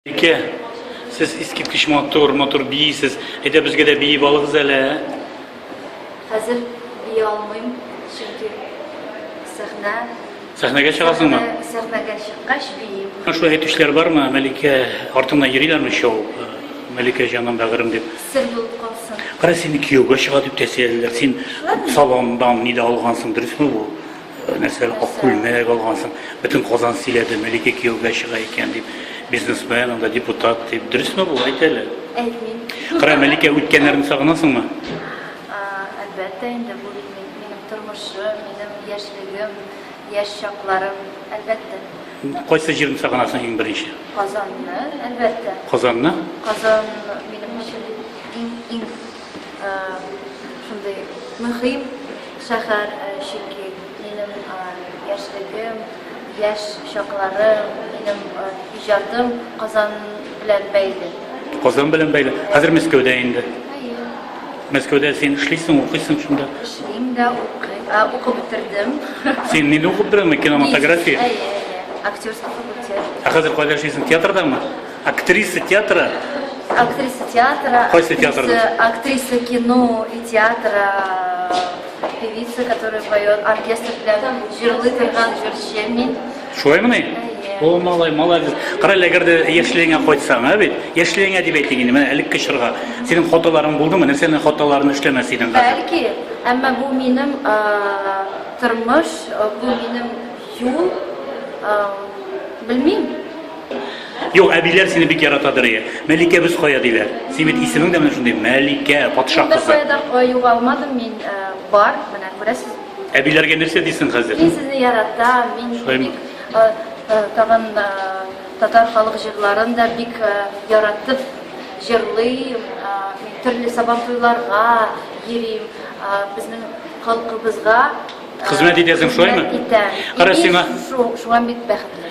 Ике, сез искиткеч матур, матур бийсез. Әйдә безгә дә биеп алыгыз әле. Хәзер бии алмыйм, чөнки сәхнә. Сәхнәгә чыгасыңмы? Сәхнәгә чыккач биим. Шулай әйтүчеләр бармы? Мәликә артына йөриләрме шоу? Э, Мәликә җаным, бәгырем дип. Сер булып калсын. Кара сине кияүгә чыга дип тәсиялиләр. Син салондан нидә алгансың, дөресме бу? Нәрсә, ак күлмәк алгансың, бөтен Казан сөйләде, Мәликә кияүгә чыга икән дип, бизнесмен, анда депутат дип. Дөресме бу? Әйт әле. Әйтмим. Кара, Мәликә, үткәннәрне сагынасыңмы? А, Әлбәттә инде, бу бит мин- минем тормышым, минем яшьлегем, яшь чакларым, әлбәттә. Кайсы җирне сагынасың иң беренче? Казанны, әлбәттә. Казанны? Казан минем өчен иң, иң, э, шундый мөһим Шәһәр, чөнки минем яшьлегем, яшь чакларым, минем иҗатым Казан белән бәйле. Казан белән бәйле. Хәзер Мәскәүдә инде. Әйе. Мәскәүдә син эшлисең, укыйсың шунда. Эшлим дә, укыйм, ә, укып бетердем. Син нидә укып бетердеңме? Кинематография? Әйе, әйе. Актерский факультет. Ә хәзер кайда эшлисең? Театрдамы? Актриса театра? Актриса театра. Кайсы театр? Актриса кино и театра. Певица, которая поет оркестр для Жирлы Ферган Жиршемин. Шулай мыни? О, малай, молодец. Карале, әгәр дә яшьлегеңә кайтсаң, ә бит? Яшьлегеңә дип әйтик инде, менә элекке чорга. Синең хаталарың булдымы? Нәрсәнең хаталарын эшләмәс идең хәзер? Бәлки, әмма бу минем тормыш, бу минем юл. Белмим. Юк, әбиләр сине бик яратадыр, ие. Мәликәбез кая диләр. Син бит исемең дә менә шундый, Мәликә, патша кызы. Мин дә кая югалмадым, мин э, бар, менә күрәсез. Әбиләргә нәрсә дисең хәзер? Мин сезне яратам, мин бик э, э, тагын татар халык җырларын да бик яратып җырлыйм, мин төрле сабан туйларга йөрим, безнең халкыбызга хезмәт итәсең, шулаймы? Хезмәт итәм. Кара сиңа. Шуңа бик бәхетле.